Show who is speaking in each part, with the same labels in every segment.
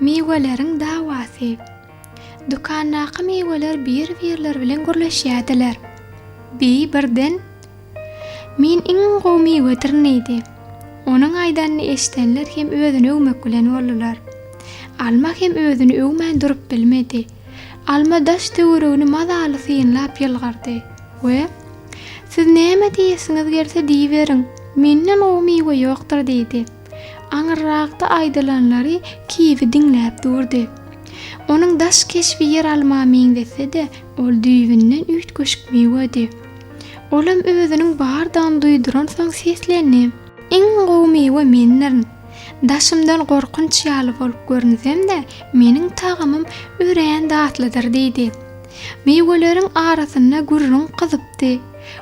Speaker 1: Miweleriň dawasy. Dükandaky miweler bir-birleri bilen gürleşýärdiler. Bi birden, Men iň gowy miwedirin diýdi. Onuň aýdanyny eşidenler hem özüni öwmek bilen boldular. Alma hem özüni öwmän durup bilmedi. Alma daş töweregini mazaly synlap ýylgyrdy we, Siz näme diýesiňiz gelse diýiberiň, menden gowy miwe ýokdur diýdi. Aňyrrakda aýdylanlary Kiwi diňläp durdy. Onuň daş keşbi ýeralma meňzese-de, ol düýbünden üýtgeşik miwedi. Olam özüniň bardygyny duýduransoň seslendi. Iň gowy miwe mendirin. Daşymdan gorkunç ýaly bolup görünsem-de, meniň tagamym örän datlydyr, diýdi. Miweleriň arasynda gürrüň gyzypdy.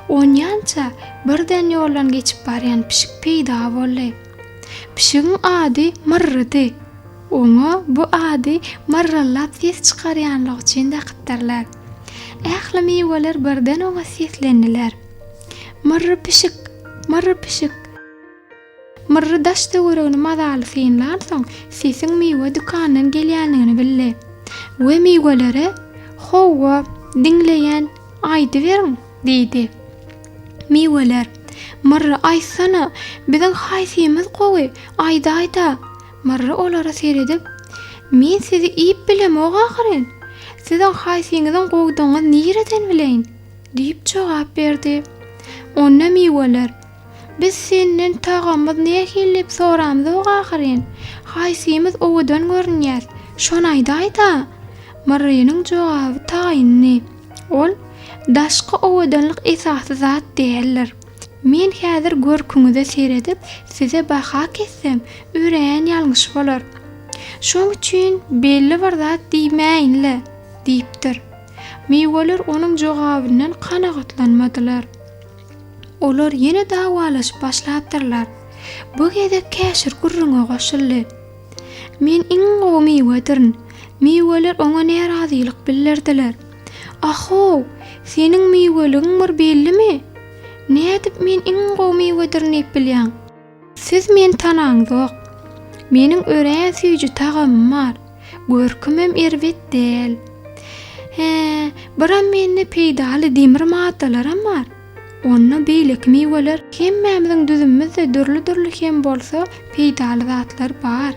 Speaker 1: Onýança birden ýoldan geçip barýan pişik peýda boldy. Pişigiň ady Myrrydy. Oňa bu ady myrryllap ses çykarýanlygy üçin dakypdyrlar. Ähli miweler birden oňa seslendiler. Myrry pişik! Myrry pişik! Myrry daş töweregini mazaly synlansoň, sesiň miwe dükandan gelýändigini bildi we miwelere, Howwa, diňleýän, aýdyberiň! diýdi. Miweler, Myrry, aýtsana, biziň haýsymyz gowy, aýdaý-da! Myrry olara seredip, Men sizi iýip bilemok ahyryn! Siziň haýsyňyzyň gowudygyňyzy nireden bileýin? diýip jogap berdi. Onda miweler. Biz senden tagamyz nähili diýip soramzok ahyryn? Haýsymyz owadan görünýäs? Şony aýdaý-da! Myrrynyň jogaby taýyndy. Ol, Daşky owadanlyk esasy zat däldir. Men häzir görküňize seredip, size baha kessem, örän ýalňyş bolar. Şoň üçin belli bir zat diýmäýin-le! diýipdir. Miweler onuň jogabyndan kanagatlanmadylar. Olar ýene dawalaşyp başlapdyrlar. Bu gezek käşir gürrüňe goşuldy. Men iň gowy miwedirn. Miweler oňa närazylyk bildirdiler. Ah-how, seniň miweligiň bir bellimi? Nädip men iň gowy miwedirn diýip bilýäň? Siz meni tanaňzok. Meniň örän süýji tagamym bar. Görkümem erbet däl. Hä, biram mende peýdaly demir maddalaram bar. Onda beýleki miweler, hemmämiziň düzümimizde dürli-dürli hem bolsa peýdaly zatlar bar.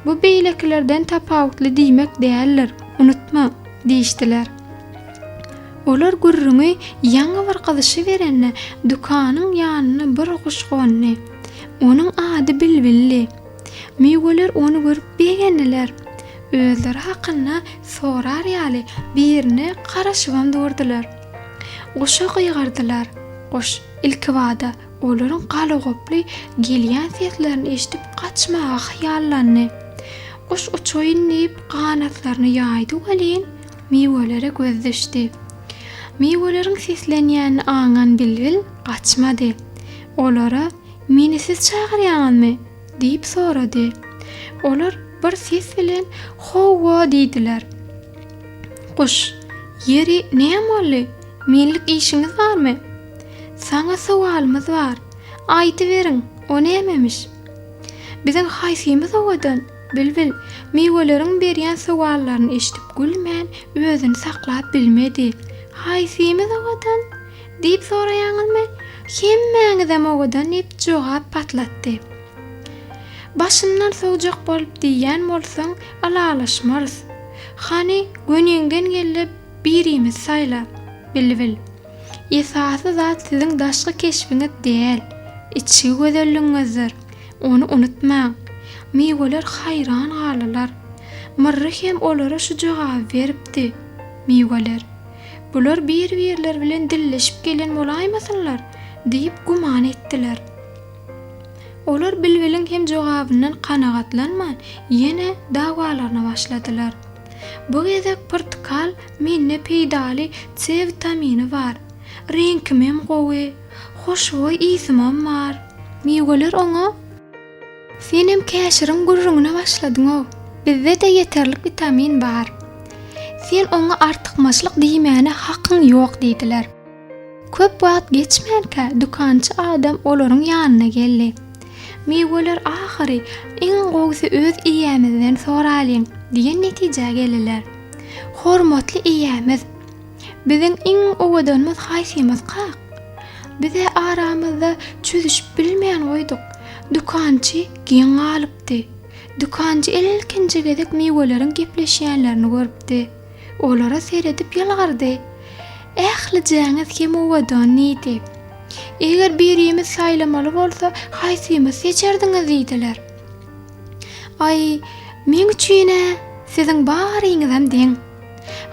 Speaker 1: Bu beýlekilerden tapawutly diýmek däldir, unutma! diýişdiler. Olar gürrüňi ýaňy bir gyzyşyberende, dükanyň ýanyna bir guş gondy. Onuň ady bilbildi. Müýgeler ony görüp begendiler. Özleri hakynda sorar ýaly birine garaşybam durdular. Guşa gygyrdylar. Guş, ilkibada, Olaryň galagoply gelýän seslerini eşidip gaçmaga hyýallandy. Guş uçaýyn diýip ganatlaryny ýaýdy welin, miwelere göz düşdi. Miweleriň seslenýänini aňan bilbil gaçmady. Olara, Meni siz çagyrýaňyzmy? diýip sorady. Olar bir ses bilen Howwa diýdiler. Guş, Ýeri, näme boldy? Menlik işiňiz barmy? Saňa sowalymyz bar. Aýdyberiň, o nämemiş? Biziň haýsymyz owadan? Bilbil, miweleriň berýän sowallaryny eşidip gülmän, özüni saklap bilmedi. Haýsymyz owadan? diýip soraýaňyzmy? Hemmäňizem owadan diýip jogap patlatdy. Başyndan sowjak bolup diýýän bolsaň, ylalaşmarys. Hany, göniňden geldi, birimizi saýla. Bilbil. Esasy zat siziň daşky keşbiňiz däl, içki gözelligiňizdir. Ony unutmaň. Miweler haýran galdylar. Myrry hem olara şu jogaby beripdi, Miweler, bular bir-birleri bilen dilleşip gelen bolaýmasynlar? diýip güman etdiler. Olar bilbiliň hem jogabyndan kanagatlanman, ýene dawalaryna başladylar. Bu gezek pyrtykal mende peýdaly C witamini bar. Reňkimem gowy. Hoşboý ysymam bar. Miweler oňa. Senem käşiriň gürrüňine başladyňow. Bizde-de ýeterlik witamin bar. Sen oňa artykmaçlyk diýmäne hakyň ýok diýdiler. Köp wagt geçmänkä dükançy adam olaryň ýanyna geldi. Miweler ahyry, iň gowusy öz eýämizden soralyň diýen netijä geldiler. Hormatly eýämiz, biziň iň owadanymyz haýsymyz kak? Biz-ä aramyzda çözüşip bilmän goýduk. Dükançy geň galypdy. Dükançy ilkinji gezek miweleriň gepleşýänlerini görüpdi. Olara seredip ýylgyrdy. Ählijäňiz hem owadan diýdi. Eger birimiz saýlamaly bolsa, haýsymyz seçerdiňiz diýdiler. Aý, meň üçin-ä siziň baryňyzam deň.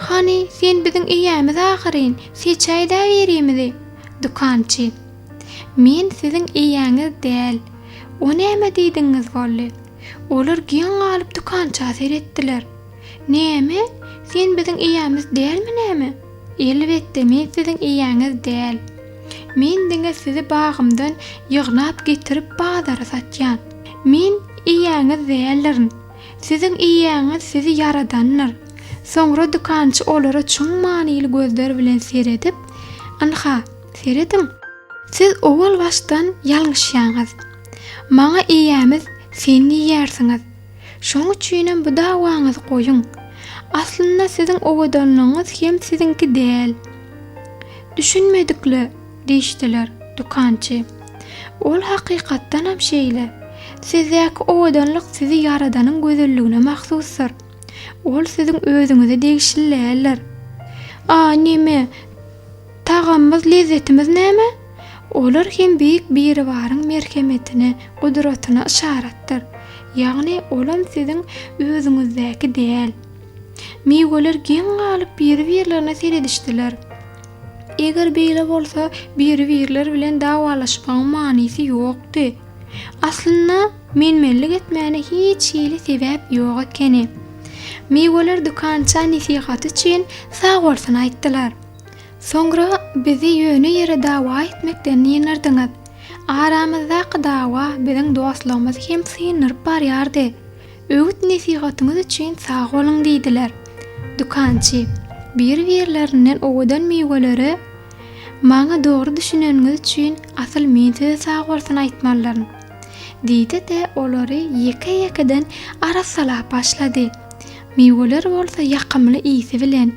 Speaker 1: Hany, sen biziň eýämiz ahyryn, seçäý-dä birimizi. Dükançy. Men siziň eýäňiz däl. O näme diýdigiňiz boldy? Olar geň galyp dükança seretdiler. Näme? Sen biziň eýämiz dälmi näme? Elbetde, men siziň eýäňiz däl. Men diňe sizi bagymdan ýygnap getirip bazara satýan. Men eýäňiz däldirin. Siziň eýäňiz sizi ýaradandyr. Soňra dükançy olara çuň manyly gözler bilen seredip, Ynha, serediň. Siz owal başdan ýalňyşýaňyz. Maňa eýämiz sen diýýärsiňiz. Şoň üçinem bu dawaňyzy goýuň. Aslynda siziň owadanlygyňyz hem siziňki däl. Düşünmedikle, diýişdiler, dükançy. Ol hakykatdanam şeýle. Sizdäki owadanlyk sizi ýaradanyň gözelligine mahsusdyr. Ol siziň özüňize degişli däldir. A neme? Tagamymyz, lezzetimiz näme? Olar hem Beýik Biribaryň merhemetine, gudratyna yşaratdyr. Ýagny, olam siziň özüňizdäki däl. Miweler geň galyp biri-birlerine seredişdiler. Eger beýle bolsa, biri-birleri bilen dawalaşmagyň manysy ýokdy. Aslynda, menmenlik etmäne hiç hili sebäp ýok ekeni. Miweler dükança nesihaty üçin sagbolsun aýtdylar. Soňra bizi ýöne ýere dawa etmekden ýyndyrdyňyz. Aramyzdaky dawa biziň dostlugymyzy hem syndyryp barýardy. Öwüt-nesihatyňyz üçin sag boluň diýdiler. Dükançy, Bir-birlerinden owadan miwelere maňa dogry düşüneniňiz üçin asyl men size sag bolsun aýtmalylaryn. Diýdi-de olary ýeke-ýekeden arassalap başlady. Miweler bolsa ýakymly ysy bilen.